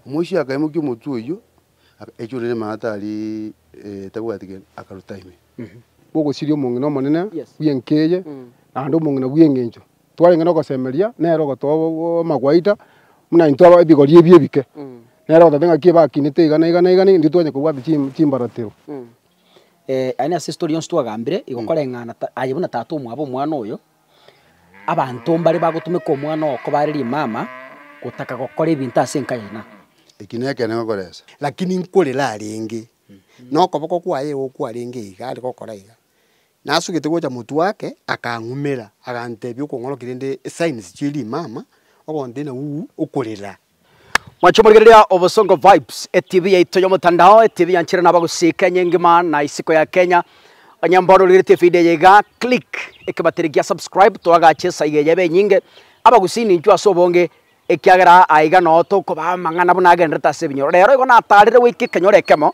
Omoisia akaimokia omotwe oyio, agachora ere maata aria atabwati gento, akaruta ime. Bw'ogosiria omong'ina omonene bw'enka eye, naende omong'ina bw'engencho twarenge nogosemeria, nere ogotoa amagwaita buna intwe aba ebigori ebi ebike. Nere ogoteba ng'a ki bakinete iga na iga na iga na iga, intwe twanyara kobwata chi- chimbaratero. Aye nase story yonsi twagambire, igo koreng'ana ta aye buna tata omwabo omwana oyo, Abanto mbare bagotumeka omwana oo koba are rimama, gotaka gokora ebinto ase enka yaino. Eki nekeene ngokoresa. Lakini nkorere arenge, na okoboko kwaye igo kwarenge iga are gokora iga. Nasugete gocha motwe ake, akang'umera, agantebia, Okong'oroki rende esigns chie rimama, ogontena, Uu, okorera. Mwanche morigereria Obosongo Vibes, etibi yaito y'omotandao, etibi yanchire nabo gosika enye engima na isiko ya Kenya. Onye mbono origeretie efidio eye iga, click ekebateri gia subscribe toagache esaya eye ebe enyinge, abagusini inchwe ase obonge, ekiagera aiga noo tokobaa amang'ana buna agenderete ase ebinyoro. Rero igo natarire goika ekenyoro ekemo,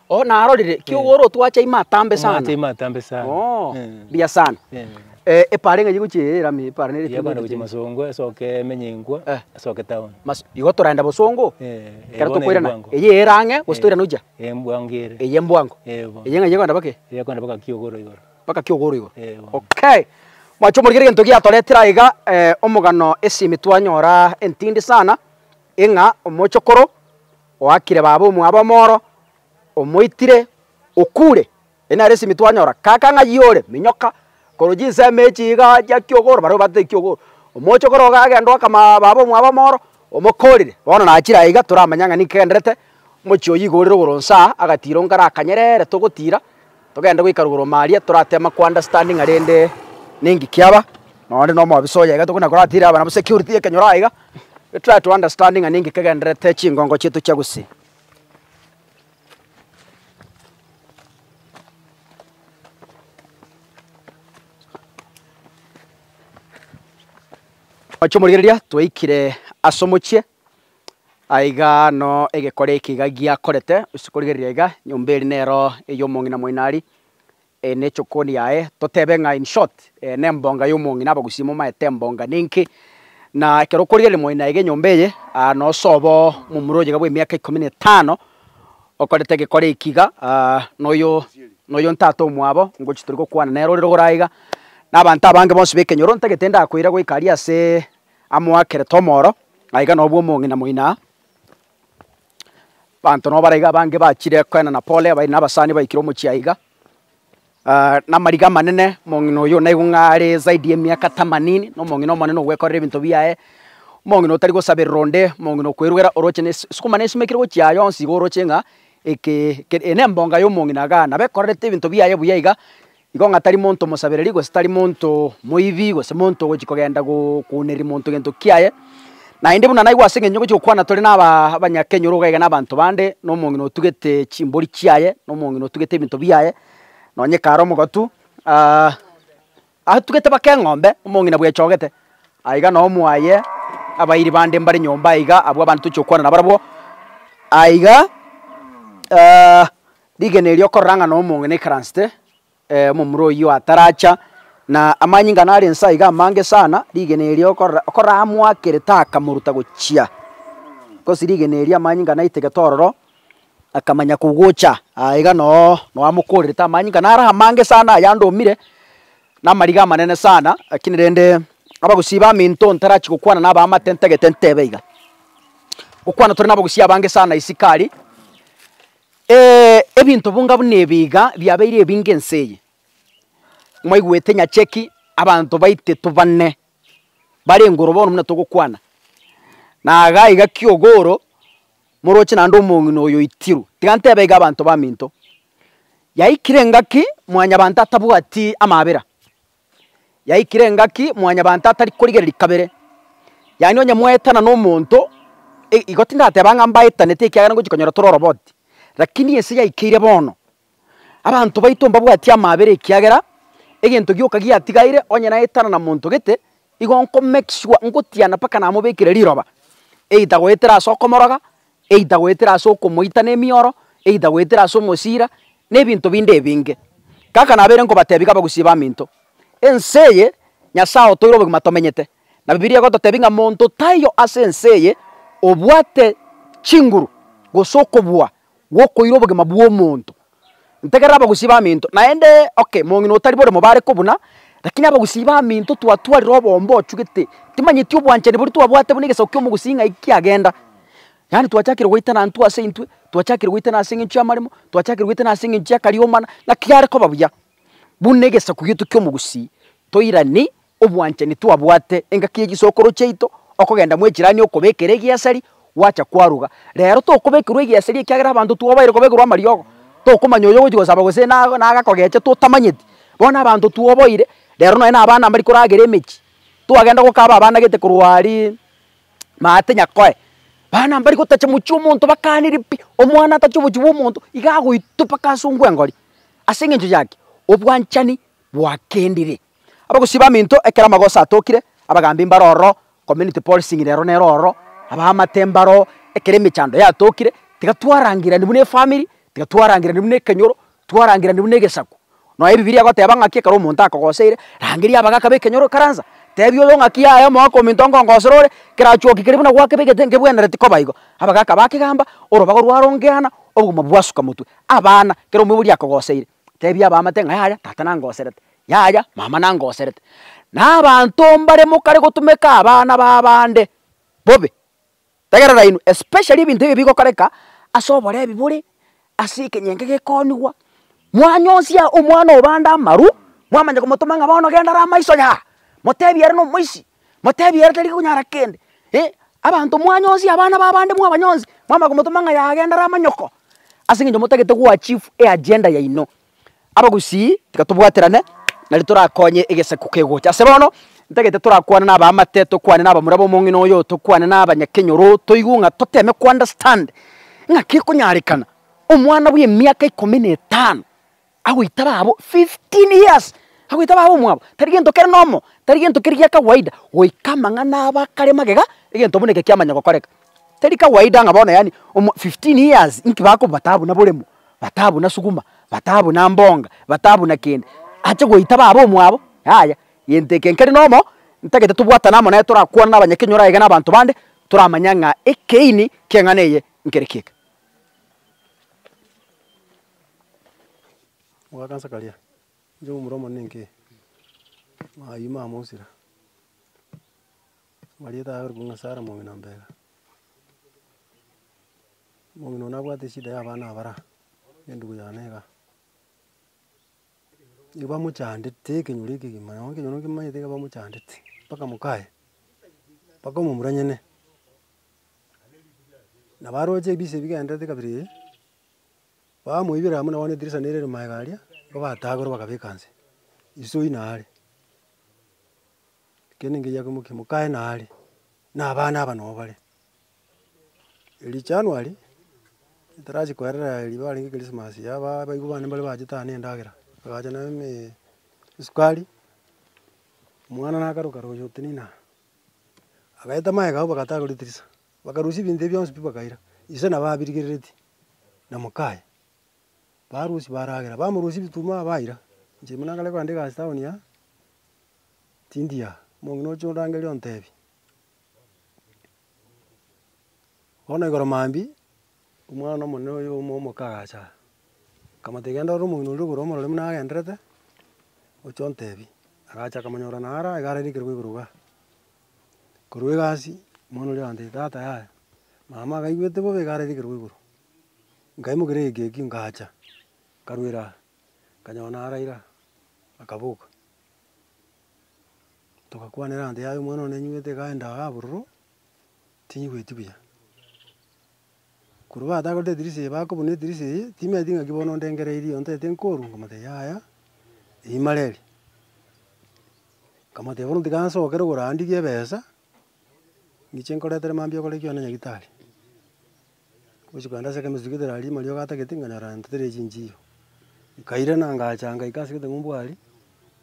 Oh, narorire, Eh. kiogoro otwacha ime atambe sana. Omwacha ime atambe sana. Oh, Eh. mbuya sana. Eh. Eh, epara ng'a yegochia eye erame, epara nere Yabana gochia masongo esoke emenye enkwa, Eh. esoke town. Mas- igo toraenda bosongo, Eh, ekero bono tokoirana, ebwango. eye ere ang'e, gose Eh, toirane ochia, eh, mbwango ere. eye mbwango. Eh, bono. Eye ng'a yegoenda bake, Yekoenda mpaka kiogoro igoro. baka kiogoro igoro. Eh, bono. Okay. Mwache omorigeri egento giatoretire aiga, eh, omogano esimi twanyora entindi sana, eng'a omochokoro Oakire baba omwabo omoro, omoitire, okure. Eye nere esimi twanyora. Kaka ng'a yiore, minyoka, korwa chinsemo echi iga chia kiogoro, baria obatete ekiogoro. Omoche okoro iga agenda oaka baba omwabo omoro, omokorire. Bono nachire aye iga toramanya ng'a ninki kegenderete, omochie oywo iga orire igoro inse aa, agatira ongare akanyerere togotira, Togende goika rugoro Maria, torate amakwanda standing arende ninki kiaba, nonya onde nomobisa oye iga tokona koratira aba nabo security ekenyoro aiga, we try to understand ng'a ninki kegenderete chingongo chiaito chia gusii. Omochie omorigereria twaikire ase omochie. Aiga no egekore eke iga giakorete, gose korigereria iga, nyomba eria nero ey'omong'ina moinari, eye nechokoni yaye, totebe ng'a in short nembonga y'omong'ina abagusii momaete embonga ninki, na ekero okorigereria moino aiga enyomba eye, nosobo momura oye iga bw'emiaka ikomi na etano, okorete egekore eki iga noyo noyo ntata omwabo, ngochi tori gokwana nere ore rogoro aiga, na abanto abange bonsi b'ekenyoro ntagete ndakoira goika aria aseee. Amoakere tomoro, na iga nobwo omong'ina moino aa. Abanto nabo baraiga abange bachire koenda na pole, abairi na abasani baikire omochie aiga, namariga amanene, omong'ina oyo naigwe ng'a are zaidi ye miaka tamanini, na omong'ina omonene ogwekorera ebinto biaye, omong'ina otari gosaberera onde, omong'ina okwerugera oroche ne sukuma ne esimekire gochia aa yonsi iga oroche ng'a eke eke eye nembonga y'omong'ina igaa, nabo ekorerete ebinto biaye buya iga, Igo ng'a tari monto omosabereri, gose tari monto moibi, gose monto ogochia kogenda gokwonereria monto gento kiaye. Naende buna naigwe ase eng'encho ngochia gokwana tore naba abanyakenyoro iga iga na abanto bande, na omong'ina otugete chimbori chiaye, na omong'ina otugete ebinto biaye, nonye kare omogato atugete mpaka eng'ombe, omong'ina bwechogete. Aye iga noo mwaye abairi bande mbare nyomba aiga, abwo abande tochi gokwana nabarabwo. Aye iga Rigena erio okorora ng'a nomong'ina aikaransete omomura oyio ataracha, na amanyinga nare inse aiga amange sana, rigena erio okorora okorora amoakerete akamoruta gochia, gose rigena erio amanyinga naitegete ororo, akamanya kogocha aye iga noo noo amokorerete amanyinga nare amange sana aya ande omire, na amariga amanene sana, rakini rende abagusii ba minto ntarachi gokwana na abaamate ntagete ntebe iga. Gokwana tore na abagusii abange sana isiko aria. Ee, ebinto bonga buna ebi iga biabeire ebinge ense eye. Mwaigwete nyacheki abanto baiteto bane barenge oro bono buna togokwana, na iga iga ki'ogooro moroche naende omong'ina oyo oitirwe. Tiga ntebe iga abanto baminto, yaikire ngaki mwanyabanto atabwati amabera. yaikire engaki mwanyabanto atari korigereria kabere. Yaani onye mwaetana na omonto, e- igo tindateba ng'a mbaetanete ekiagera ngochi konyora tore oroboti, rakini ense yaikeire bono, abanto baito mbabwatia amaabera ekiagera, egento gioka giatigaire onye naetana na monto gete, igo nko make sure ngotiana mpaka namobekire riroba, either goetera ase okomoroga. either goetera ase okomoita nemioro, either goetera ase omosira, na ebinto binde ebinge. Kaka nabeire nkobatebia iga abagusia baminto, ense eye Nyasae otoire obogima tomenyete, na Bibilia egototebia ng'a monto taiyo ase ense eye obwate chinguru gose okobua gwokoira obogima bw'omonto. Ntegerera abagusii baminto, naende oke mong'ina otari boremo bare kobuna, lakini abagusii baminto twatwarire oboombe ochugete, timanyeti obwanchani boria twabwate buna egesaku ki'omogusii ng'ai kiagenda. Yaani twachakire goitana intwe ase intwe, twachakire goitana ase eng'encho y'amaremo, twachakire goitana ase eng'encho y'akariomana, ng'aki are koba buya, buna egesaku gieto ki'omogusii toirani. obwanchani twabwate engaki ye chisokoro chiaito, okogenda mwechirani okobekera egeasari, gwacha kwaruga. Rero tokobekerwa egeasari ekiagera abanto twobaire kobekerwa amariogo, tokomanya oyo ogochi gosaba gose nago nago akogecha totamanyeti. Bono abanto twoboire, rero nonye na abana mbari koragera emechie, twagenda gokaba abana gete korwa aria maate Nyakoe, bana mbari gotacha mochie omonto bakaniri pi, omwana atache obochi bwa omonto iga agoitwe mpaka ase ongwengori. Ase eng'encho yaki, obwanchani bwakendire. Abagosii baminto ekero amagoso atokire, abagambi mbaro ororo, community policing rero nero ororo, abaamate mbaro oo, ekero emechando yatokire, tiga twarangirani buna efamiri, tiga twarangirani buna ekenyoro, twarangirani buna egesaku. Nonya ebibilia egoteba ng'aki ekero omonto akogoseire, rangeria abagaka b'ekenyoro ekaransa, tebia oyo ng'aki yaya omogaka ominto nkongosera ore, kerachwoki keria buna gwakebe egete nkebwenereti koba igo. Abagaka bakegamba, orobaga rwarongea ana, obogima bwasuka motwe. Abana, kera omoibori akogoseire, Tebia abaamate ng'a yaya, tata nangoserete, yaya, mama nangoserete. Na abanto mbare mokare gotumeka abana b'abande bobe, tegerera inwe, especially ebinto ebio bigokoreka ase oborebi bore ase ekenyenge gekoonigwa, mwanyosia omwana o bande amaru, mwamanya komotoma ng'a bono genda ara amaiso yaa, motebie ere nomoisi, Motebi ere tari konyara kende, eh, abanto mwanyosie abana b'abande mwabanyonsi, mwamanya komotoma ng'a yaye agende ara amanyoko, ase eng'encho motagete goachieve eagenda yaino. Abagusii, tiga tobwaterane, nari torakonye egesaku kegocha. Ase bono, ntagete torakwane na abaamate, tokwane na abamura b'omong'ina oyo, tokwane na abanyakenyoro, toigwe ng'a toteme ko-understand ng'aki ekonyarekana omwana bw'emiaka ikomi na etano agoita babo 15 years agoita babo omwabo tari gento kere nomo tari gento keri gia kawaida goika amang'ana aba akare magega egento buna eke kiamanya gokoreka teri kawaida ng'a bono yaani omo 15 years inki bakoba bataba buna boremo bataba buna suguma bataba buna mbonga bataba buna kende ache goita babo omwabo yaya gento eke nkeri nomo ntagete tobwatane amo naye torakwane na abanyakenyoro aye iga na abanto bande toramanye ng'a ekeini ki'eng'ana eye nkere ki'eke. Mogakansa karia, inche omomura omonene inki? Ayio mama mosira, omanyete aye orokwa Nyasaye ara omong'ina mbega. Omong'ina oyio nabwate eshida ya abana abara, na endugu yane igaa. Nigo bamochandete ekenyoro ekegima, nonya ekenyoro nkimanyete nigo bamochandete, mpaka moka aye, mpaka omomura nyene. Nabo aroche ebise bigendererete kabere. bamoibera amo na bono edirisa nere ere magega aria, nigo batagora bakabeka inse, iso ina are, ekiagera engencho yake mokia, mokaye na are, na abana aba nabo bare. Erio january, ntarachia koerera riria kwarenge christmas ya aba abaigo bane mbare bachete aye na endagera, bagacha na eme esukari, omwana nakaruka royio otinena, agaeta magega abwo bagatagora edirisa. Bakarusia ebinto ebio bionsi pi bakaira ise na babirigereretie na mokaye. Barusia baragera, bamorusia ebituma baira. Inche buna nkare koandika ase town aa, tindi aa, omong'ina oche orangerie ontebie. Bono igoro mambia, omwana omonene oyo omo omoka agacha aa, nkamotebia genda orore omong'ina oria igoro omorore buna agendererete, oche ontebie. Agacha akamonyora naro iga ararigekerwa igoro igaa. Korwa egasi, omwana oria agantebi tata yaya, mama akaigwete bobe iga ararigerwe igoro, nkaimokeria egekeki nkacha, nkarwera aa, nkanyora naraire aa, akaboka. Togakwanera egento yaye omwana one nanyigwete iga aende iga bororo, tinyigweti buya. Korwa batakorete edirisa eye bakobuna edirisa eye, timaeti ng'aki bono ondengereirie ontete nkoru? Nkamotebia, Yaya, rimare eri. Nkamotebia, Bono tiga nsokere korandigia ebesa, ng'iche nkoretere mambia okore ekiona nyagitari. Gochi kogenda ase ekemesi tugete rari ime aria ogatagete, nkanyora renta teri ya chinchiyo. Nkairana ngacha ngaika ase egete ng'umbu aria,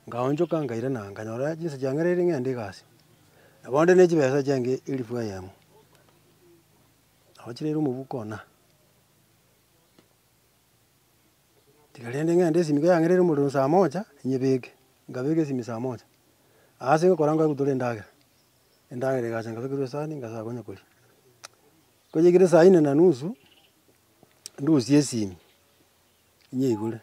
nkaonchoka nkairana nkanyora chinsa chiang'ereire ng'ende egasi. Nabo nde ne chibesa chiange elifu eyemo. Nagochireire omobuko ona. Tiga rende ng'ende esimi iga yang'ereire omorero saa moja, nyebeke. Nkabeka esimi saa moja. Aase ngokora ngwa ngotore endagera. Endagera egacha nkabekerwa esani nkasaa konya koria. Konya ekero saa inne na nusu, ndusie esimi. inyeigure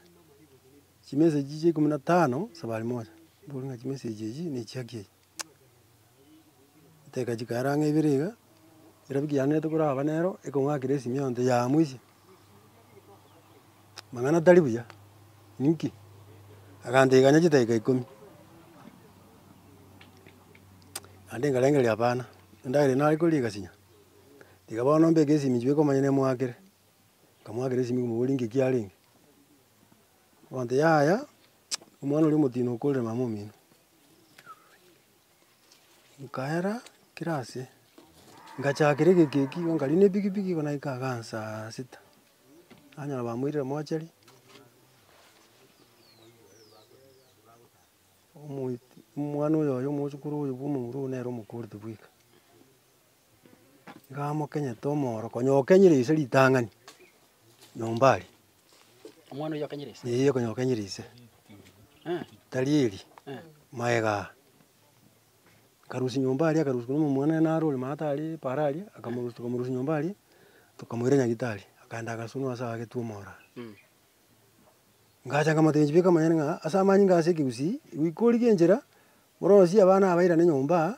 chimeseji chia ikomi na tano safari moja, mbore ng'a chimeseji echi ne chiaki echi, chiteka chikaera ang'e ibere iga, erabiki yanerete koraba nero ekong'akera esimi eyio nte yamuisie, amang'ana tari buya, inki? Agantebiaga chidaki ikomi naende nkarengereria hapana, endagera eye nare koria egasinya, tiga bono mbeke esimi chwo ekomanya nemoakire. Nkamwakera esimi nkamobori nge kiarenge, abanto yaya omwana oria omotino okorire mama omino. Nkaera kira ase, ngachakera egeki eki igo nkaria ne epikipiki igo naika iga saa sita, nanyora bamoirire mochari, omoiti omwana oyoyomosokoro oyo bwa omong'ina oyo nere omokorete bweka. Iga amokenyete omoro, konya okenyire ise ritang'ani nyomba aria. Omwana oyio akenyire ise? Eeh konya okenyire ise. Tari eri, magega aa. Akarusia nyomba aria akarusia korwa omomura naro ore maata aria paaro aria, akamorusia tokamorusia nyomba aria, tokamoira nyagitari, akaenda agasunwa ase agetwe omoro aa. Ngacha nkamotebia inchebeka amanyene ng'a ase amanyinga ase ekegusii, goika origie enchera, orosie abana abairane nyomba aa,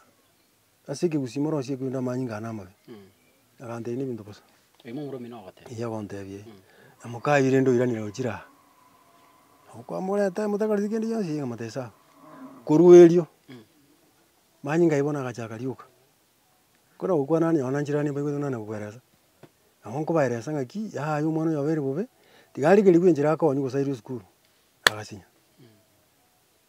Ase ekegusii morosie korende amanyinga aa namabe. Agantebi nebinto bosa. Oimo omoro omino ogoteba. Eyi agontebia eyi. Na moka aye rende oiranire gochira aa. Nabo kwamoreta motakareti kende gionsi iga motesa aa. Korwa erio, manyinga aye bono agachaka rioka. Kore gokwana nonye nonye nchirano nibaigwete nonye kokoeresa. Nabo nkobaeresa ng'aki yaya oyo omwana oyo abeire bobe, tiga arigeri bwenchera akonywa gose airwe esukuru, agasinya.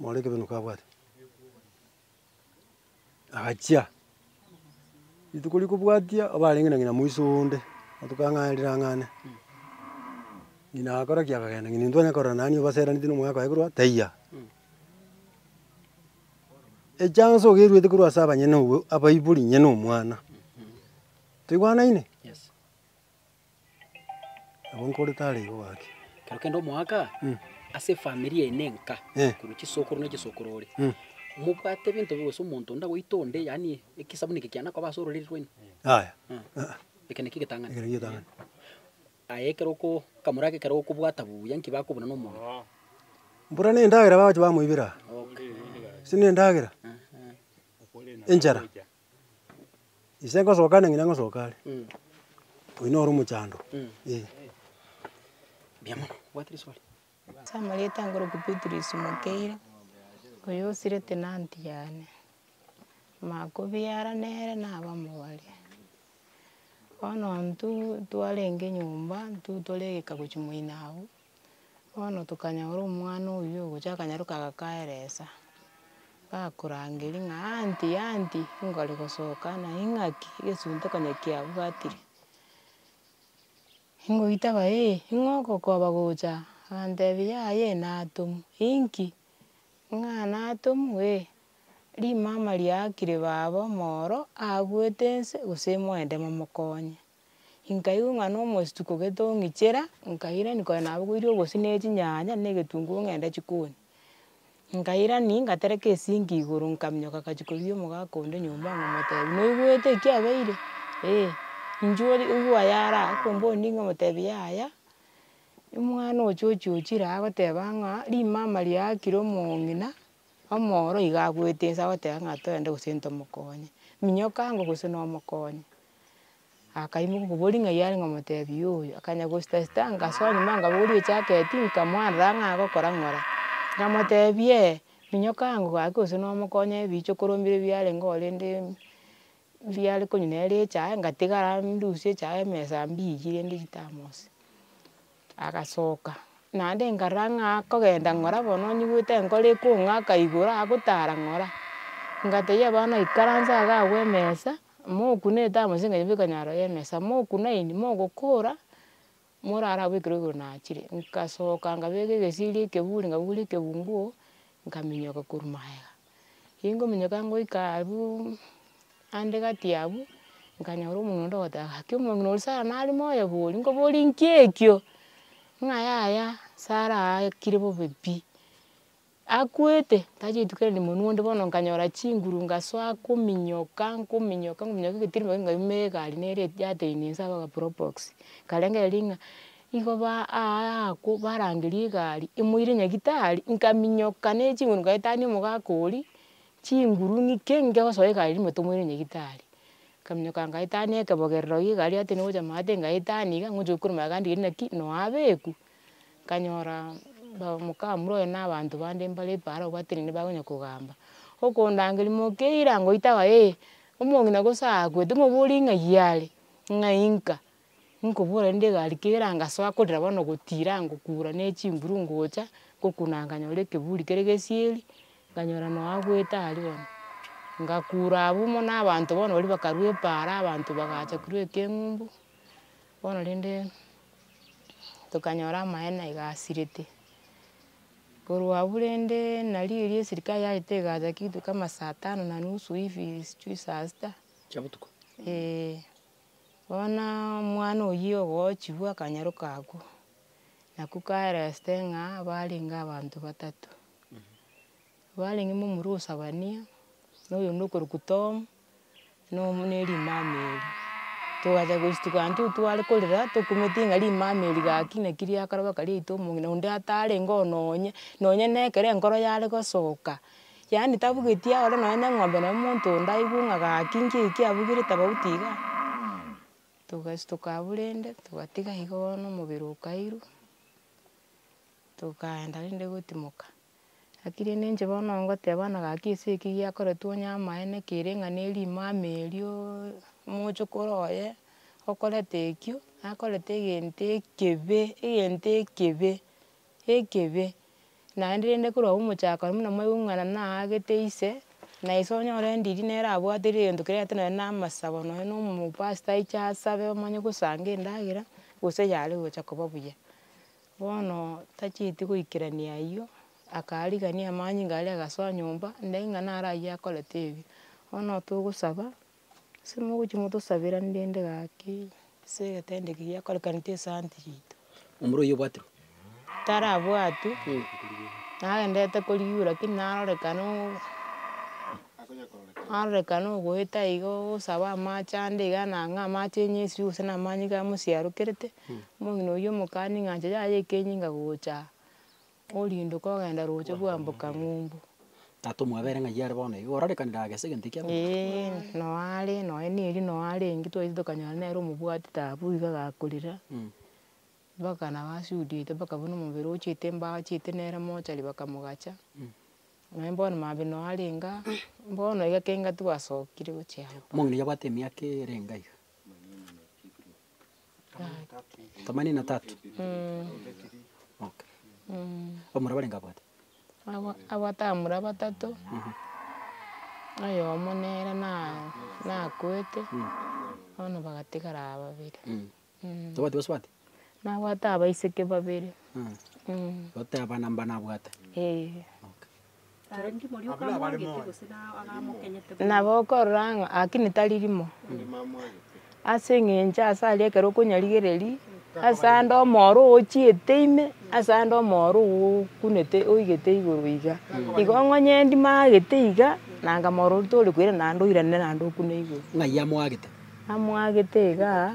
More ekebenuka kabwate, agachia, rituko ria kobwatia oba arenge na ng'ina moiso onde, matuko ang'ane na rirango ang'ane, ng'ina agakora ki? Akagenda, ng'ina intwe twanyare korora nani obaseraneti na omogaka oye korwa taiya. Echance ogeruete korwa ase abanyene abwo abaibori inye na omwana, toigwanaine? Nabo nkore tare igo gaki. Ekero kende omoaka Mm. ase efamiri yaino enka, Eh. korwa chisokoro na chisokoro ore, Mm. mobwate ebinto bi- gose omonto onde agoita onde, yaani ekesabuni eke kiana koba ase ororeri rwaino, Yaya, eh, eh, eke naki egetang'ani. ekero getang'ani. Aye ekero oko ekamoro ake ekero okobwata buya, nki bakobuna na omonto? Mbura nendagera bagochi bamoibera, Okay. ase nendagera, enchara, Ise ngosoka ande ng'ina ngosoka are, oyio noro omochando eh. Mbuya mono, obwate riswali? Ase amarieta ange orokia Beatrice Mokeire, oyo osire tenant yane. Makobiara nere naba omobare. Bono intwe twarenge nyomba, intwe tore egeka gochia moino abwo. Bono tokanyora omwana oyio ogocha akanyaroka agakaeresa, gakorangeria ng'a aunty aunty nkore gosoka na ing'aki, egesunte konya kiabwatire, ngoita ba ee, ning'o ogokoba gocha? Agantebia yaya natomwa, inki? Ng'a natomwa ee, rimama riakire baba omoro abuete ense gose moende momokonye. Nkaigwa ng'a na omostuko gete ong'ichera, nkairani kore nabo koirio obosio na echinyanya na egetunguru ng'ende jikoni. Nkairani ngatereka esinki igoro nkaminyoka ngachia kobia omogaka onde nyomba ng'omotebia noigwete ekia abeire? Eeh. Inche ori oyio oyara akombonirie ng'omotebi yaya, omwana ochi ochi ochire aa goteba ng'a rimama riakire omong'ina, omoro iga agoeta inse agoteba ng'a toende gose ntomokonye. Minyoka ango gose nomokonye. akaimoka okobori ng'ai are ng'omotebi yoyo, akanya gosita sita ngasoa nyuma ngabori echaketi nkamwarera ng'a agokora ng'ora, ngamotebi ee, minyoka ango gaki gose nomokonye ebiicho korombire biarenge oo rende riare konywa nere echae ngatigara ndusie echae emesa mbiyie rende chitamosi. Agasoka, naende nkarora ng'a akogenda ng'ora bono onyigwete enkoro ekong'aka igoro agotara ng'ora, ngatebia abana ikaransa iga agwo emesa, mokuna etambo gose ekanyamu ekonyara naro ya emesa, mokuna eyio mogokora, morare agwo ekero igoro nachire, nkasoka nkabeka egesieri ekeburi, nkabura ekegugu, nkaminyoka korwa magega. Ingominyoka ngoika abu ande gati abu, nkanyora omong'ina onde ogoteba gaki omong'ina oria sara nare moyo boria, nkoborie nki ekio? Ng'a yaya sara aakire bobe pi. Akwete, tachia rituko erinde monwe onde bono nkanyora chinguru ngasoa nkominyoka, nkominyoka, nkominyoka egetirime gaki nkaumera egari nere yateinia inse abwo aga probox, nkarengereria ng'a. Igo baa aa akwo barangeria egari emoire nyagitari, nkaminyoka ne chinguru nkaetania omogaka oria, chinguru ng'ii ki nge gosoa egari rimo tomoire nyagitari. Nkaminyoka nkaetania ekebogerero gie egari ase nigo ochama ase ngaetania iga ngocha gokwira omogaka ndigiri naki noa abeku. Nkanyora ba omokamura oye na abanto bande mbare epara obatenene bakonya kogamba. Okondangeria mokeira ngoita abae omong'ina gose aakwe timobori ng'ai are, ng'ai nka. Nkobora rende egari kera ngasoa korira bono gotira ngokura ne chinguru ngocha, ngokuna nkanyora ekeburi kere gesieri, nkanyora no agwete aria bono. Ngakura abwo mo na abanto bono baria bakarwa epaara abanto bagacha korwa ekeng'umbu, bono rende tokanyora amaene iga asirete. Korwa abwo rende nari erio eserikari yagete egacha kitu kama saa tano na nusu hivi sijui saa sita. Chia botuko. Bono omwana oyio ogochigwa akanyaroka agwo, naki kaereste ng'a barenge abanto batato, barenge momura o Zefania, na oyonde okorokwa Tom, na omo na erimama erio. Togacha gochituka intwe tware korera tokumete ng'a rimama eri gaki naki riakarabeka riaito omong'ina onde atarenge oo nonye, nonye na ekero enkoro yare gosoka. Yaani tabugetie ore nonya ne eng'ombe nonya omonto onde aigwe ng'a gaki nki eki abugire tofauti iga, togastuka abwo rende togatiga iga bono omobere okairwa, tokaenda rende gotimoka. Gaki rende inche bono ngoteba bono gaki ase eki giakoretwe onye amaene kere ng'a ne rimama erio, mochokoro oye, okoreta ekio, nakoreta egento ekebe, egento ekebe. ekebe, naende rende korwa omochako aria buna mwaigwa ng'a nana aagete ise, na ise onyore endiri nere abwate ere egento keria egento nonye na amasabo nonye na omopastor aiche asabe omanye gosanga endagera, gose yare gocha koba buya. Bono tachieti goikerania aywo, akarigania amanyinga aria agasoa nyomba, nde ng'a nare aywo akorete ebi, bono togosaba. Ase mogochia motosabera ndende gaki, ase egetanda eke giakorekanete esanti yaito. Omorwaire oye obwatire? Tarabwatwe, nagenderete korigwa lakini narorekana oo, narorekana ogoeta iga ogosaba amache ande iga na ng'a amache enyesu gose na amanyinga amo siarokerete, omong'ina oyio omokani ng'a inche yaya ekenyinga gocha aa. Oriinde kogenda roche bwamboka ng'umbu. Tata omwabere ng'ai are bono iga, orarekanire agese egento ekiya gocha. Ee, noo are, nonye neri noo are eng'iti twaiyete tokanyora nere omobwatete abwo iga agakorera, mpaka nabo asudiete mpaka buna omobere ochete mbao achete nere mochari bakamogacha, nonye bono maambia noo arenge aa, bono iga kegati gwasokire gochia abwo. Omong'ina oyio abwate emiaka ere enga iga. Themanini na tatu. Okay. Omura barenge abwate. Abwa- abwate abamura batato, oyomo nere na- nakwete, bono bagatigara aba babere. Tobwati bonsi bwati? Nabwate abaiseke babere. Goteba namba nabwate. Eeh. Okay. Nabo okorora ng'a haki tari rimo, ase eng'encho ase aria ekero okonyarigereria, ase ande omoro ochiete ime, ase ande omoro okunete oigete igoro iga, igo ong'onyendi magete iga, nanga moro tori koira naende oirane naende okune igoro. Ng'ai amwagete? Amwagete igaa,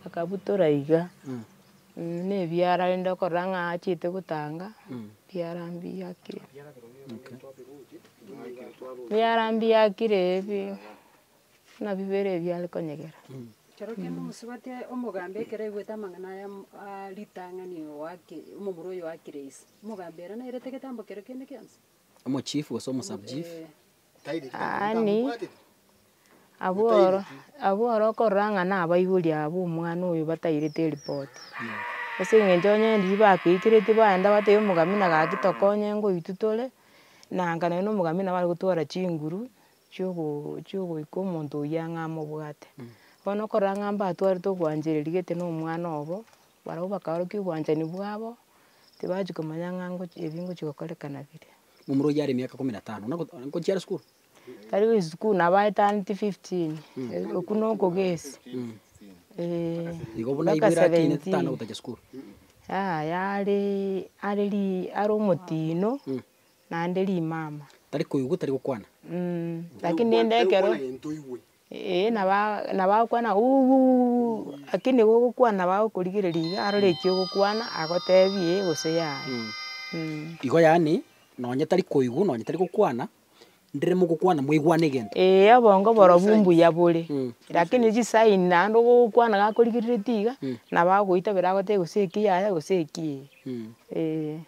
akabutora iga. nebiara rende okorora ng'a achete gotanga, ebiara mbiya ki. Ebiara mbiya kire bi, buna bibere ebi are konyegera. Ekero kende omosubati aye omogambi ekero aigwete amang'ana aya mm aa ritang'ani oake omomura oyo oakire ise, omogambi ere nairete getambo kero kende gionsi? Omochief gose omo sub chief? Eeh. Yaani, abwo oro, abwo oro okorora ng'a nabaibori aba b'omwana oyo batairete eripoti, ase eng'encho onye riria bagoikireti baenda batebia omogamina gaki tokonye ngoitwe tore, nanga nonye na omogamina nabare gotwara chinguru, chiogo chiogoika omonto oyio ang'e amobwate. Bono okorora ng'a mbatwarete ogwanchereri gete na omwana obo, barabwo bakaorokia obwanchani bwabo, tibachi komanya ng'a ngochi ebi ngochi gokorekana biria. Momura oyio are emiaka ikomi na etano, na ngochiara sukuru. Tari gochia sukuru nabo aetaneti fifteen, okwo na okogesi, eeh. Igo buna igo ere atinete tana gotachia sukuru. Yaya are are ri are omotino, naende rimama. Tari koigwa tari gokwana. Lakini rende ekero. Ee, nabagokwana Uwuwuwuwuu, lakini nigo ogokwana nabo agokorigereria iga arore eki ogokwana agotebie ee gose yaya. Igo yaani, nonye tari koigwa, nonye tari gokwana, ndire mogokwana mwaigwane egento. Ee, obongo borobwo mbuya bore, lakini chisign naende ogokwana gakorigereretie iga, nabo agoita bire agotebie gose eki yaya gose eki ee, ee.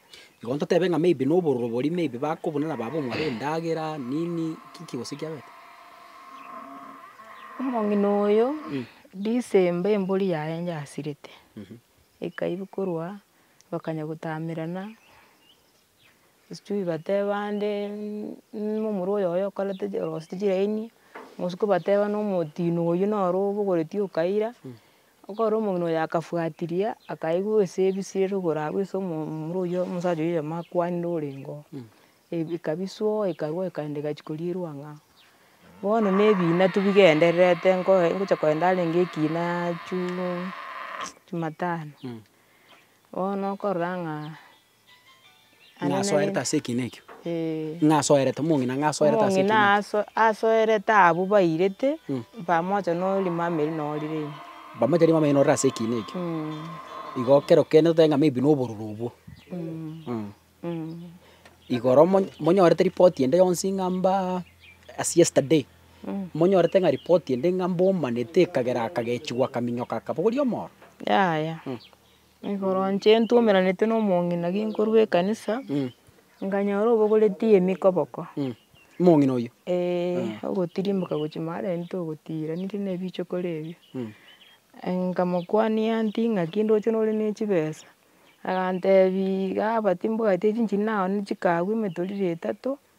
Igo ntotebe ng'a maybe nobororo boria maybe bakobuna na baba omwabo endagera, nini, kiki gose kiabete? Omong'ina oyo, Disemba embori yaye yasirete, ekaiyia korwa, bakanya gotamerana, sijui bateba nde muna omorwa oyoyo okorete orosete chiraini, botuko bateba nomotino oyio noro obogoretie okaira, Ekero omogina oye akafuatiria, akaigwa ase ebisire rogoro agwo ase omomura oyio omosacha oyio oyomo akwanire orenge oo, ebi- ekabisuo ekarua ekaenda egachia korierwa ang'aa oo. Bono na ebiina tu bigendererete nkoe ngocha kogenda arenge ekiinaa chuu jumatano, bono okorora ng'a. Are Ng'a asoerete nere- ase ekiina ekio. Ee. Ng'a asoerete, omong'ina ng'a asoerete ase ekiina Omong'ina ekio. aso- asoerete abwo bairete, Mm. pamoja na orimama erio na orire ime. Pamoja na erimama erio na orire ase ekiina ekio. Mm. Igo ekero okenete otebe ng'a maybe na obororo obwo. Mm. Mm. Mm. Igoro monyo- monyorete ripoti ende yonsi ng'a mbaa as yesterday, Mm. monyorete ng'a ripoti ende ng'a mbomanete ekagera akagechigwa akaminyoka akabogoria omoro. Yaya. Mm. Igoro inche ntwomeranete na omong'ina nkorwa ekanisa, nkanyora obogoreti emikoboko. Omong'ina oyio? Eeh, ogotirimboka gochia maarenge ogotiraniri na ebichokoro ebio. Nkamokwania nti ng'aki ndoche nore ne chibesa? Agantebia igaa but mbwate chinchiri naye chikagwa emetoriro etato.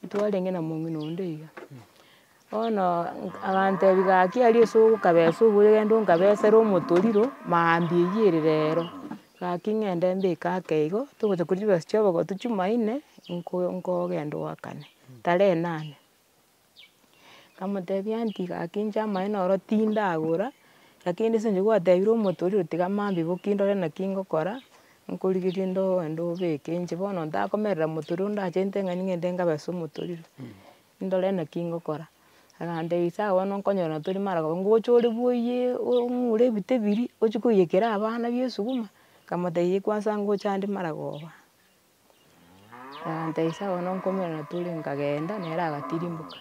Titwarenge na mong'ina onde iga, bono agantebia gaki aria ase ogokabesa oboyo genda okabesere omotoriro maambia eyio ere rero, gaki ng'ende mbeke ake igo, togocha koria chibesa chia obogotu chimaine, nko- nkogenda oakane, tarehe nane. Nkamotebia nti gaki inche amaene oro tindagora, lakini ase inche gwatebire omonto oria oti tiga mambia boki ndore naki ngokora, nkorigereria ndo ende obeke inche bono ntakomerera monto oria ondachete ng'a ning'ende nkabe ase omonto oria, ndore naki ngokora. Agantebia sawa bono nkonyorana tori maragao ngocha ore bwoiye ong'ure ebito ebirie, ochie koiyekera abana bie esuguma, nkamotebia ye kwanza ngocha ande maragoba. Nkabateebia sawa bono nkomera na tore nkagenda nere agatirimboka.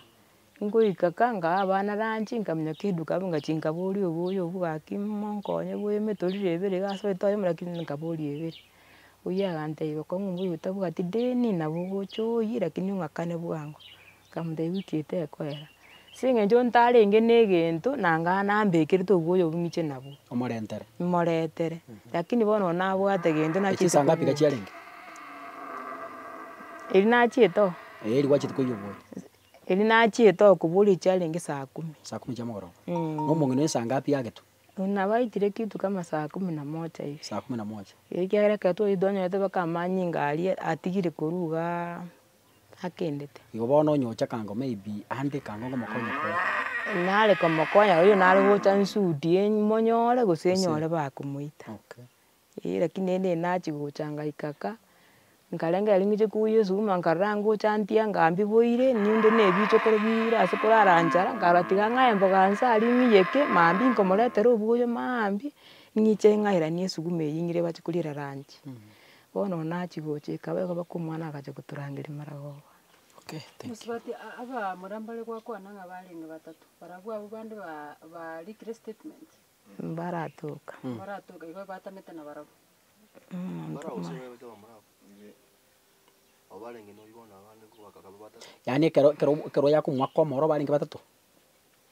Nkoika ka nkaha abana lunch nkaminyeka eduka abwo ngachia nkaboria oboyo obwo gaki monkonye bwa emitorire ebere iga ase oetore ime lakini nkaboria ebere. Oyio aganteebia kong'u mbuya otabwati deni nabo ogocha oyie lakini ong'akane bwango. Nkamotebia, Wiki eye tekoera, ase eng'encho ntarenge negento na ng'a nambekerete obwoya obwo ng'iche nabwo. Omorentere. Moretere. Lakini bono oyo nabwate egento nachiete koiyia. Echisaga ngapi iga chiarenge? Erio nachiete oo. Eeh erio gwachiete koiyia obwoya. Erio nachiete oo koboria erio chiarenge saa kumi. Saa kumi chia omogoroba. Na omong'ina oyo saa ngapi agetwa? Nabo aitire kitu kama saa kumi na moja hivi. Saa kumi na moja. Ekiagera ekero twachire twanyorete mpaka amanyinga aria atigire korwa igaa. akendete. Igo bono onye ocha kango maybe ande kango ngomokonye koo. Nare komokonya oyo nare gocha nsudi monyore gose nyore bakomoita. Okay. Eeh lakini ere nachi gocha ngaika ka, nkarenge aria ngocha kogwa esuguma nkarora ngocha ntia ngambiboire ninde ne ebichokoro bire ase korara nchara nkarora tiga ng'ae emboga nse aria ng'iyeke maambia nkomoretera obuya maambia ng'iche ng'aeranie esuguma eyio ng'ire bache koriera lunch. Bono ona achia gocha, ekaba egoba kw'omwana agachia gotorangeria maragoba. Okay. Mosubati abamura mbare gwakwana ng'a barenge batato, barabwo abwo bande ba barikire statement. Mbaratoka. Mbaratoka igo batamete na barabwo. Yaani ekero ekero ekero yakomoaka omoro barenge batato.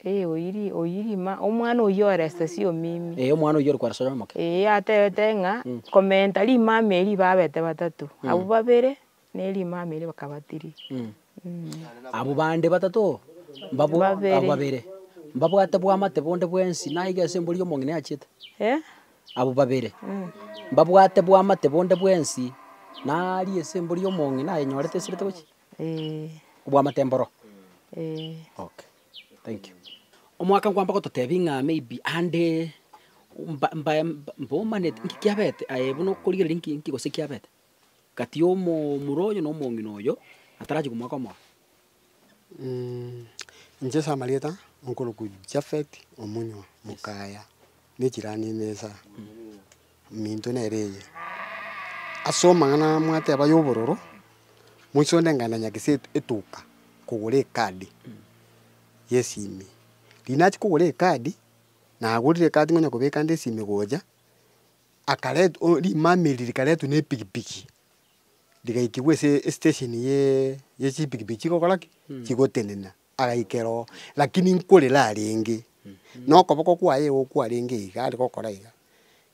oyirima, omwana oyio ore esesio omimi. Eeh omwana oyio ore kware soya omoke. Eeh atebete ng'a, komenta rimama erio babete batato, abwo babere, na erimama erio bakaba tiri. Abwo bande batato oo, mbabwo Babere. abwo babere, mbabwate bwamate bonde bwensi, naiga ase embori y'omong'ina yachiete? Eh? Abwo babere, mbabwate bwamate bonde bwensi, naria ase embori y'omong'ina ayenyorete esirete gochia? Obwamate mboro? Okay. Thank you. Omwaka nkwamba gototebia ng'a maybe ande mba- mbae mbomaneti nki kiabete aye buna okorigereria nki nki gose kiabete, kati ya omo omura oyo na omong'ina oyo atarachie komwaka omoyo. inche ase amarieta nkorokwa Japhet Omunywa, Mokaya, ne echirani ime esa. Eminto nere eye, Ase omong'ana mwateba y'obororo, moise onde ng'aenda nyaka ase etuka kogora ekadi y'esimi. Riria nachia kogora ekadi, nagorire ekadi ng'onya kobeka ande esimi gocha, akaret o rimama eri rikaretwa na epikipiki, rigaikigwa ase estesheni ye ye chipikipiki chigokora ki? Chigotenena. Agaikera oo, lakini nkorera arenge, na okoboko kwaye igo kwarenge iga are gokora iga,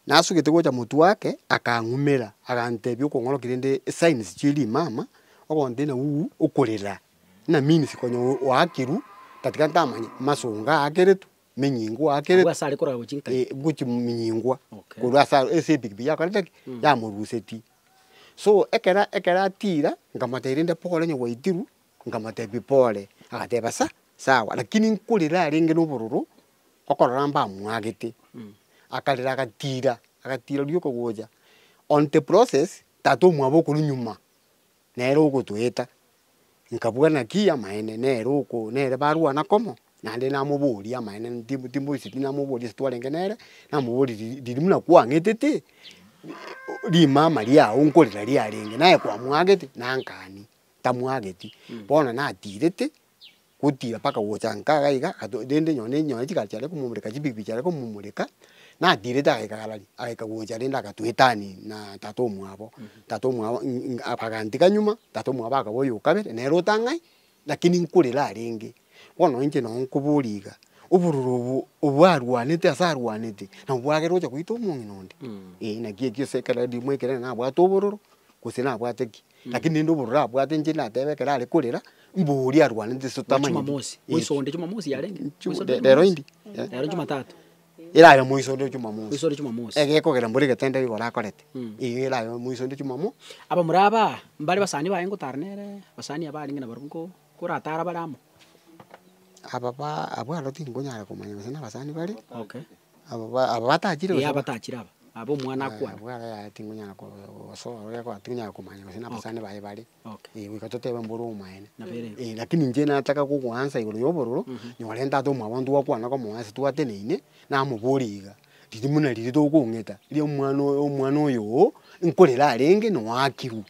nasugete gocha motwe ake, akang'umera, agantebia okong'oroki rende esigns chia rimama, ogonte na uu okorera, buna means konya o- oakirwe, tatiga ntamanye, masongo aakeretwe, menyingo Agwo ase are korora gochia nkayi. aakeretwe, gochia minyingwa, Okay. korwa ase aro ase epikipiki yakorete ki? Yamorusetie. So ekero ekero atira, nkamotebi rende pole onye gwaitirwe, Nkamotebia, Pole. Agateba, Sa, sawa, lakini nkorera arenge nobororo, okorora mbamwagete. Akarera agatira, agatira rioka gocha. On the process, tata omwabo okorwa nyuma, nere ogotoeta. Nkabua naki amaene, nere oko, nere barwana komo, naende namoboria amaene, ti timboisetie namoboria ase twarenge nere, namoboria riri riri buna kwang'etete, rimama riao nkorera riarenge, naye kwamwagete, nankania. tamwageti, bono natirete gotira mpaka gocha nkaga iga, ato rende nonye ne nonye chigari chiaye komomoreka chipikipiki chiaye komomoreka, natirete agaika galari, agaika gocha rende agatuetani na tata omwabo, tata omwabo ing ing abagantiga nyuma, tata omwabo akaba oyo o kabere, nere otang'ai, lakini nkorera arenge. Bono inche nonye nkoboria iga, obororo obo obwarwanete ase arwanete, nabo bwagera ocha goita omong'ina onde? Ee, naki ekio ase ekero rimo ekere nabwate obororo, gose nabwate ki. Lakini rende obororo abwate inche natebe ekero are korera, mbu oria arwanete ase totamanyeti. Jumamosi, moisonde Jumamosi yarenge? Moisonde Jumamosi? Rero indi? Rero Jumatatu? Erare moisonde Jumamosi. Moisonde Jumamosi. Egekogera mbore egetendero igoro akorete, eyio erabe moisonde Jumamo. Abamura aba, mbare abasani baye ngotara nere, abasani aba arenge nabarabwo nko- koratara bare amo? Ababa, abwo aro tinkonyara komanya gose nabasani bare. Okay. Aba ba- aba batachire Ee, gose ba- abatachire aba, aba omwana Aya, akwana. abwo ara yaya tinkonyara ko- gosoa oria kwa tinkonyara komanya gose na abasani baye bare. Okay. Ee, goika totebe mbore omoyene. Nabo ere ense. Ee, lakini inche nataka gogoansa igoro ya obororo, nyorente ata omwabonto gwakwana komoa ase twateneine, namoborie iga, riria buna riria togokong'eta, riria omwana oyo omwana oyo oo, nkorera arenge, noakirwe.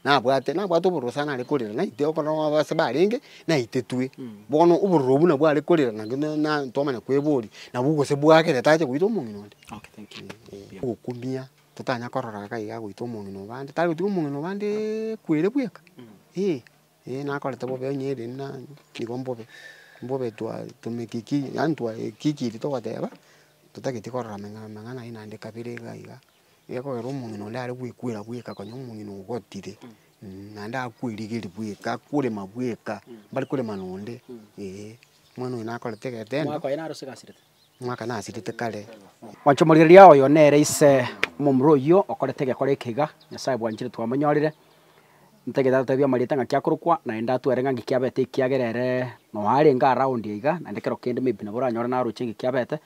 nabwate, nabwate obororo sana are korera, naitire okorora ng'a ababase barenge naitetwe. Bono obororo obwo nabwo are korera na na na twamanya kweboria, nabwo gose bwagere tacha goita omong'ina onde. Ee, ogokumia totanya korora iga iga goita omong'ina o bande, tari gotiga omong'ina o bandeeee kwere bweka, ee, ee nakorete bobe onye ere buna nigo mbobe, mbobe twa tumekiki yaani twa ekiki eri togoteba, totagetie korora amang'a amang'ana aye naende kabere iga iga. Gekogera omong'ina oria are gwekwera bweka konya omong'ina ogotire, naende akwerigeri bweka, akorema bweka, mbare korema nonde, eeh. Omwana oyo nakorete egetendo. Omwaka oye naro sigasirete. Omwaka nasirete kare. Mwanchomoreria oyo nere ise omomura oyio okorete egekora eke iga, Nyasae bwanchire twamonyorire, Ntagete atatebie amarieta ng'aki akorokwa, naende atwere ng'a ng'iki abete ekiagera ere noa arenge aroundi aiga, naende ekero kende maybe nabo oranyore naroche ng'iki abete.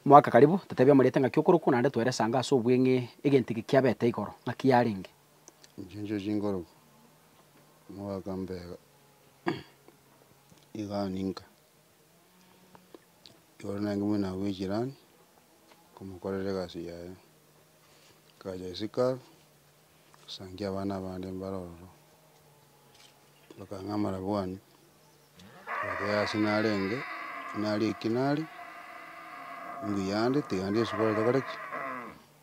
Mwaka karibu, tatebia amarieta ng'aki okorokwa, naende twere esango ase obweng'e egento eke kiabete igoro, ng'aki yarenge. Inche inche chinkorokwa, omogaka mbega iga ninka, igoro naye mbuna nabwo echirani, nkomokorera egasi yaye, nkacha isiko abwo. Gosangia abana abande mbare ororo, bakang'a amarabwani, ekeyo ase narenge, naria eki nari, mbuya ande, tiga ndie esubari tokore ki?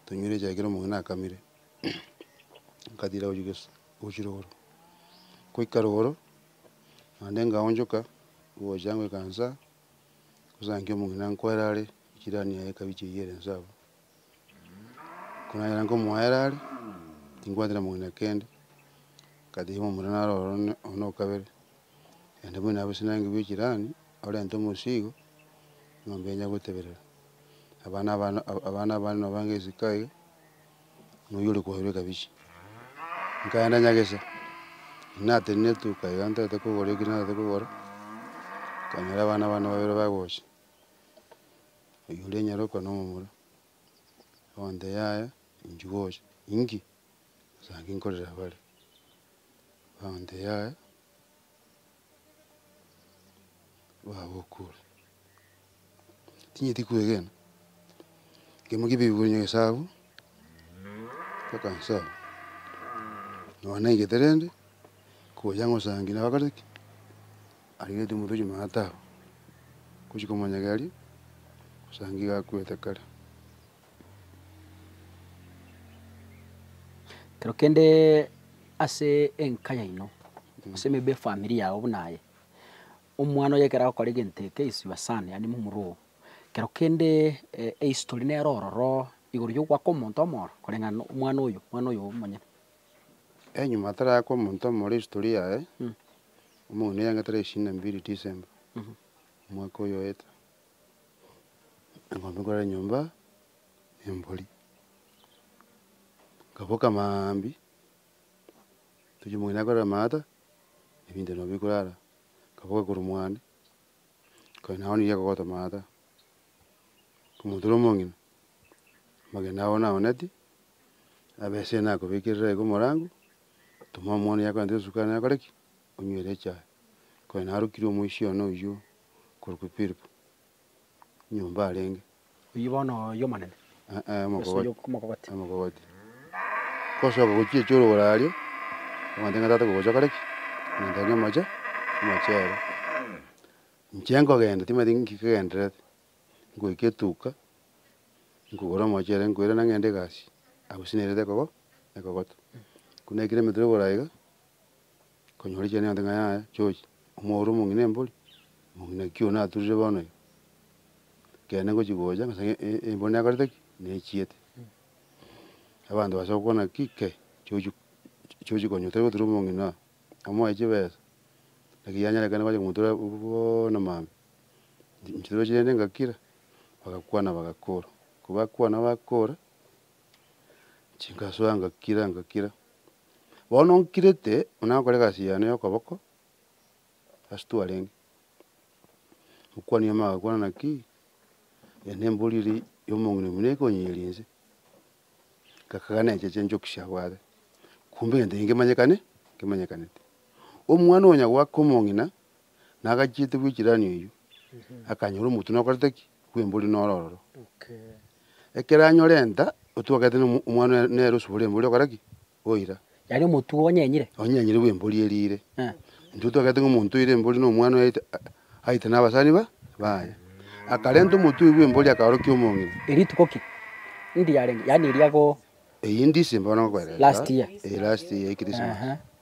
Tonywere echae ekero omong'ina akamire, nkatira gochia gesa, gochia rogoro. Goika rogoro, naende nkaonchoka, ngocha ngoika insaa, ngosange omong'ina nkwere are, echirani yaye ekabicha eywo ere inse abwo. Ekero nanyora nkomoa ere are, tinkwanchete mogina kende, ngatebia omorwoti naro oro one oyo na okabere, naende buna abwo sinanga bwa echirani, orente omosigo, eng'ombe enya goteberera, abana abana abana abande nabo bange esiko aye, na oyio ore kwaerwa ekabichi. Nkaenda nyagesa, natenena etuka iga ntarete kogora ekio narete kogora, nkanyora abana bane babere bagocha. oywo oria nyaroka na omomura, egento yaye inche gocha inki? Bosa inki nkorera bare? Egento yaye babokure, tinyeti kwegena, ekiagera ki bibori na egesaku, mpaka nsoe, nonya naigete rende, ngocha ngosange nabagaruki. Arigetie omotwe chimana tao, ngochia komonyegeri, osange iga akwete kare. Kero kende ase enka yaino, ase maybe efamiri yao buna aye, omwana oye ekero agokora egento eke is your son, yaani momura oo, kero kende ehistory nere ororo igoro ya ogoaka omonto omoro koreng'ana na omwana oyo, omwana oyo omonyene. Eeh, nyuma atarakwa omonto omoro ehistory yaye, Omong'ina yaenga tarehe ishirini na mbili Disemba omwaka oyoete, eng'ombe korwa nyomba ne embori. Nkaboka maambia, tochia omong'ina akorere amaata, ebinto nabio bikure ara. Nkaboka korwa mwane, nkaenda nao niga kogota amaata. Omonto oria omong'ina, amagena abo naoneti, abese nakobekerera iga omorango, Otoma omwana oye akoenta esuka aye nakore ki? Onywere echae. Konya narokire omoisia one oyio okorokwa Philip, nyomba arenge. Oyio bono y'Omonene? Ee, omokogoti. Omokogoti. Omokogoti. Gosoka gochiecha orogoro aria, akoenta ng'a tata kogocha okore ki? Ng'entana nomoche, nomoche ere. Inche nkogenda, timanyeti nki kegendererete. nkoika etuuka, nkogora omochere nkoirana ng'ende egasi, abwo gose nerete ekogo ekogoto. Ko naikire emetwe igoro iga, nkonyora echiende chiaye ng'a yaya chochi, omwaura omong'ina embori, omong'ina ki oyio naturire bono iga? Kende ngochia gocha ng'a asang'e e- embori nekorete ki? Nechiete. Abanto bacha gokwana ki? Ke chochi chochi konya otari gotura omong'ina oyo, amoe chibesa, naki yanyerekana bache komotura bono mambia. Chituba chiaino ngakira, bagakwana bagakora. Kobakwana bakora, chinkasoa ngakira ngakira. Bono nkirete, buna nakora egasi yane ya okoboko, ase twarenge, okwani yamo agakwana naki, eye nembori eri ya omong'ina buna ekonyeria inse. Ngakagana eche chinchoki chiabwate, kumbe egento eke nkemanyekane, nkemanyekanete. Omwana onya goaka omong'ina, nagachiete gwechirani oyio, akanyora omotwe nokorete ki? Bw'embori noro ororo. Ekero anyora enta, otwe ogaeta na omwana oye nere osubore embori okora ki? Oira. Yaani omotwe onyenyire? Onyenyire bw'embori eria ire. Intwe twagaete ng'a omonto oire embori na omwana oye aite aite na abasani ba baye. Akarenta omotwe oyio bw'embori akaorokia omong'ina. Erituko ki? Ndi yarenge? Yaani eria ko. Eyio ndisemba bono ngokoereta. Last year. Eeh last year ya Christmas. Ehe.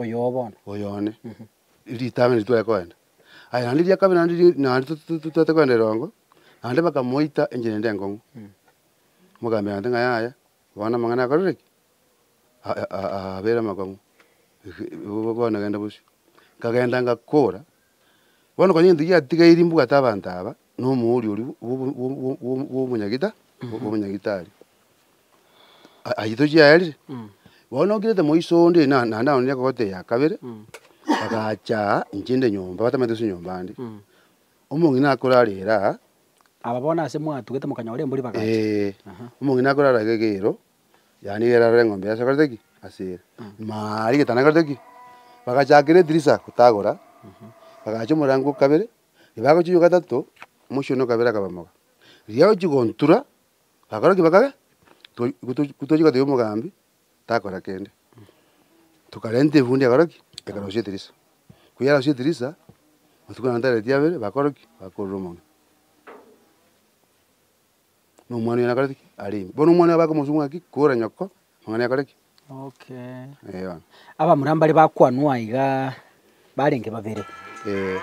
Oyo oo bono. Oyo one. Ritang'ani ritware koenda. Aye naende ria kabere naende ri- naende to- to- to- twete koenda eroongo, naende bakamoita enchera ende enkong'u. Mogaambera naende ng'a yaya, bono amang'ana akorire ki? A- a- a- abeire amakong'u. Igo bono genda bosio. Nkagenda ngakora. Bono konya egento giatigairie mbwate abanto aba, na omoori oria bwo- bwo- bwo- bwo- bw'omonyagita, bw'omonyagitari, a- ayio tochiaerire. Bono nokirete moiso onde na naende nao nere ekogotee ya kabere, agacha aa inche nde nyomba, batamanyete gose nyomba ande. Omong'ina akorarere aa, Aba bono ase mwatugete mokanyora embori bagacha. ee, omong'ina akorara gegeiro. Yaani ere arore eng'ombe yasokerete ki? Ase ere. Maaa rigetano nakerete ki? Bagachakera edirisa gotagora, bagacha omorango o kabere, riba agochia oywo gatato, omochie one o kabere akaba moga. Riria agochia gontura, bakora ki? Bakabe toi gotochi gotochi goteba omogambi takora kende. Tokarenta efundi ekora ki? Ekarosia edirisa. Ko yarosia edirisa, matuko naende tareti abere, bakora ki? Bakorora omonwe. na omwana oye nakoreti ki? Arenge. Bono omwana oye bakomosukia ng'a ki? Kora nyoko, amang'ana yakore ki? Okay. Ee bono. Abamura mbare bakwanwa aiga barenge babere. Ee.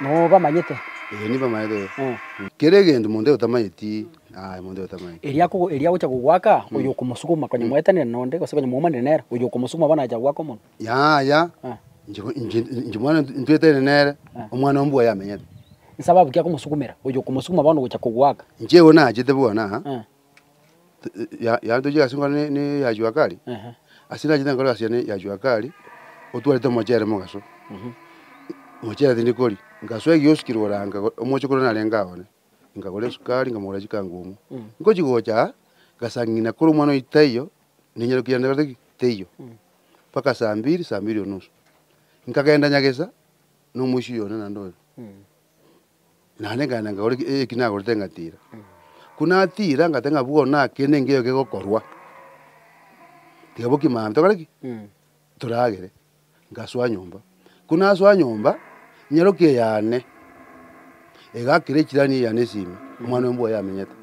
Nobamanyete? Ee, nibamanyete ee. Eh. Kera egento monto otamanyeti, aye monto otamanyeti. Erio akogo erio agocha kogwaka, oyo okomosukuma, konya mwaetanire nonde, gose konya mwaumanire nere, oyo okomosukuma bono acha gwaka omonto. Yaya, inchimwana ntweterane nere, omwana o mbua yamenyete. Inse ababuki akomosukumera, oyo okomosukuma bono gocha kogoaka. Inche igo nachete buna yantochia ase engoro ya jua kali, ase nachete engoro ya jua kali, otwarete omochere mogaso, omochere tindi koria. Ngasoa egioski korwa oranga omoche korwa narenge aye one, nkagora esukari, nkamogorera chikangumu. Nkochi gocha, ngasang'ina korwa omwana oyo taiyo, ninyarukia nde gose ki? Teiyo. Mpaka saa mbiri, saa mbiri onusu. Nkagenda nyagesa na omoisia oyo one naende oyo. Naende nkagenda nkagora eki- eki nagorete ngatira. Ko natira ngateba ng'a bono naki kende nkeiyo kegokorwa, tiga boki mambia tokore ki? Toragere. Ngasoa nyomba. Ko nasoa nyomba, nyarokia eyane, egakera echirani eyane esimi, omwana oyo mbwo yamenyete.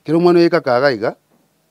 Kero omwana oyo ekakaga iga.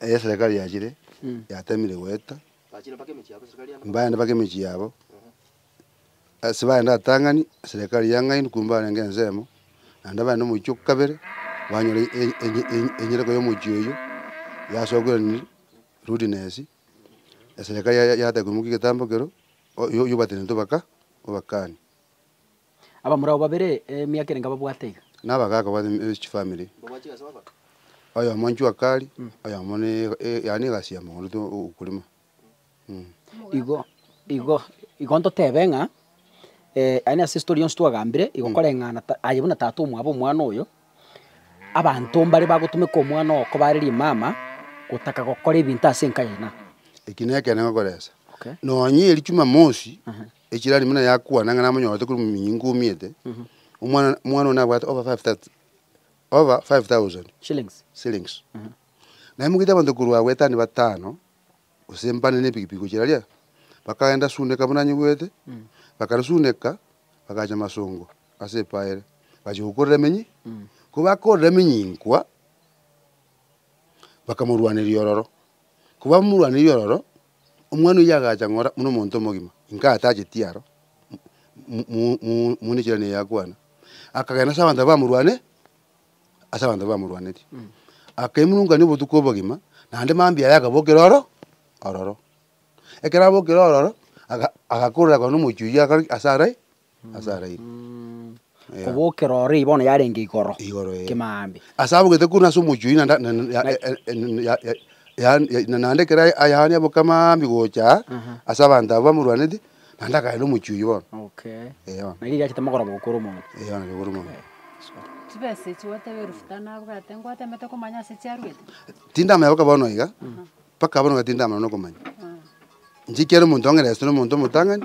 Erio eserekari yachire yatemire goeta, baende mpaka emechie yabo. Ase baende abatang'ani, eserekari yang'aini korwa mbarenge ensemo, naende baende omochie o kabere banyora e- e- e- enyereko ya omochie oyio yasokeranirie rudeness. Eserekari ya- ya- yataka koimokia egetambo ekero, oyio obatene tobaka, obakani. Abamura abo babere emiaka ere nkababwate iga. Na abagaaka babo ne chifamiri, oyomo inchwe akari, oyomo ne yaani egasi ya mogondo to ukulima. Igo igo igo ntotebe ng'a yaani ase story yonsi twagambire igo koreng'ana ta aye buna tata omwabo omwana oyo, abanto mbare bagotumeka omwana oo koba are rimama, gotaka gokora ebinto ase enka yaino. Eki nekeene ngokoresa, Okay. nonya erio chumamosi. Echirani buna yakwana ng'a namonyorete korwa minyingu omiete, omwana omwana one nabwate over five thou- over five thousand Shillings. shillings. Naye mogaita abanto korwa agwo etani batano, gose mbane na epikipiki gochia raria, bakagenda suneka buna nyigwete, bakarisuneka, bagacha masongo ase epaa ere, bachia gokorera emenyi, ko bakorera emenyinkwa, bakamorwaneria ororo. Ko bamorwaneiri ororo, Omwana oyio agacha ng'ora buna omonto omogima, inka atacheti aro mune echirano eye akwana. Akagenda ase abanto abwo bamorwane, ase abanto abwo bamorwanetie. Akaimurungania obotuko obogima, naende mambia aye akabokera oro ororo. Ekero abokire ororo, aga agakorera konya na omochie oyio akore ki? Ase arai. ase araire. Eeh. Kobokera oriri bono yarenge igoro. Igoro ee. Kime aambe. Ase abogete korwa ase omochie oyio na nda- na- na- ya- e- e- e- na- ya- ya- yaani- ya- na- naende ekero a- ayaani aboke amaambi gocha Aha. ase abanto abwo bamorwaneti, naende akaenda omochie oyio bono. Okay. Eeh bono. Naki gachete mogoroba gokora omonto. Eeh bono kegoro mono. Chibesa echi gwateba elufu tano abwate, ngwatemete komanya ase chiaruete? Tindamanya mpaka bono iga, mpaka bono iga tindamanya nokomanya. Inche ekiagera omonto onye resete na omonto omotang'ani,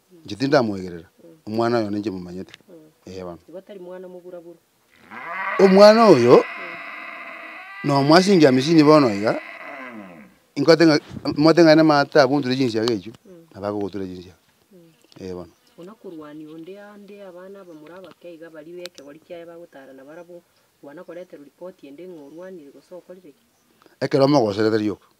Inche tindamwegerera, omwana oyo ninche momanyete. Ee bono. Omwana oyo nomo ase engiya misini bono iga, ingote ng'a mote ng'a nemaate abunture chinsiaga echio, nabo agogotura chinsiaga. Ee bono. Ekero mogoserete rioka.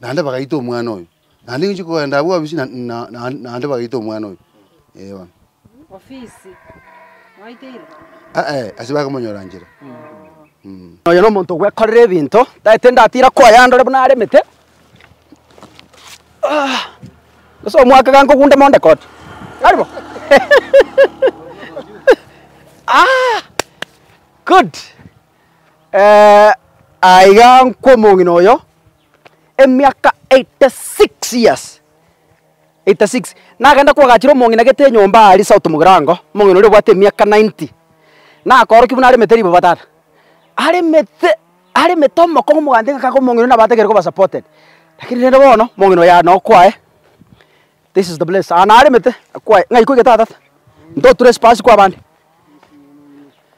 naende bagaita omwana oyo, naende ninche kogenda abwo bobisi na- na- na- naende bagaita omwana oyo, eh bono. Aye, ase bakomonyora nchera. Oyo na omonto ogwekorera ebinto, taete ndatira koyandora buna aremete, ase omwaka iga nkogunde monde koti, tari bo? Good. Aiga nkw'omong'ina oyo emiaka eighty six years, eighty six, nagenda kwagachera omong'ina gete enyomba aria south mogirango, omong'ina oria obwate emiaka ninety, nakorokia buna aremete ribaga tata, aremete aremete omokong'u omogante ng'a kaka omong'ina oyo nabo atagete koba supported, lakini rende bono, omong'ina oyo aye noo kwaye, this is the place aa naremete, kwaye ng'a iko iga tata, ntoture esipasi kwabande.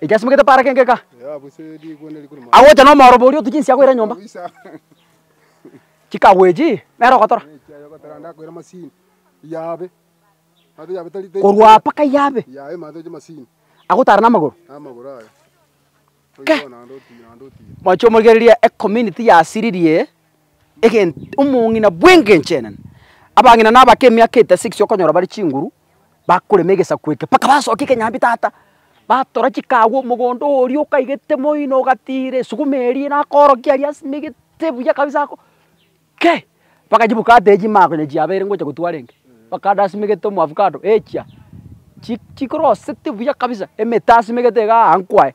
Ekiasimegete paara kengeka, agocha nomooroba oria otuche inse akoira nyomba. Chikagu echi nere ogotora. Korwa apa mpaka yabe, agotara namagoro. Kei! Moche omorigererie ecommunity yasiririe. egento omong'ina bw'engencho enene. Abang'ina na abake emiaka etesa ekesio okonyora bare chinguru, bakorema egesaku eke mpaka basokia ekenyambi tata, batora chikagu omogondo oria okaigete moino ogatiira esuguma eria na akorokia aria ase megete buya kabisa ako kei! Mpaka chibuka ata echi mako onye chiabeire ngocha gotwa arenge, bakande ase megete omoavocado, echia chi chikorosete buya kabisa emete ase megete igaa aa nkwaye.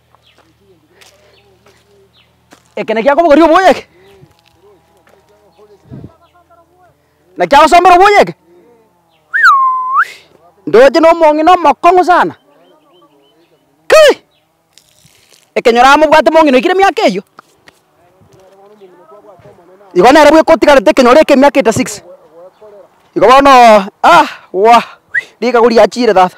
Eke naki akobogoria oboyo eke. Naki agosombera oboyo eke. Ndoche na omong'ina omokong'u sana. Kai! Ekenyoro amo bwate omong'ina oikire miaka eyio. Igo nere bwe kotigarete ekenyoro eke miaka ita six. Igo bono aah wah! Rikagu riachire tata.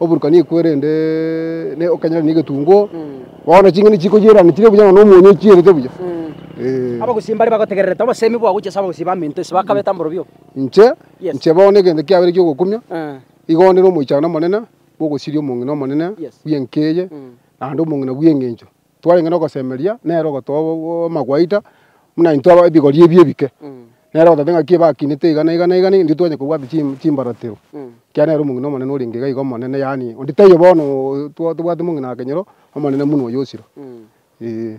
Oboruka nikwo erende ne okanyare negetunguo. Bono ching'eni chikoyerana chire buya nonya omonyo ochierete buya. Ee. Abagusii mbare bagotegererete obosemi bwao gochia ase abagusii ba minto ise bakabete amborobio. Inche, Yes. inche bono egento kiabere giogokumia, Eh. igo onde nomoichano omonene bw'ogosiria omong'ina omonene Yes. bw'enka eye, naende omong'ina bw'engencho. twarenge nogosemeria nere ogotoa amagwaita buna intwe aba ebigori ebi ebike, nere ogotoa ng'aki ebakinete iga na iga na iga, intwe twanyara kobwata chimbaratero, ekiagera nere omong'ina omonene orenge iga iga omonene, yaani onde taiyo bono tobwate omong'ina wa kenyoro omonene buna oyo osira, eeh.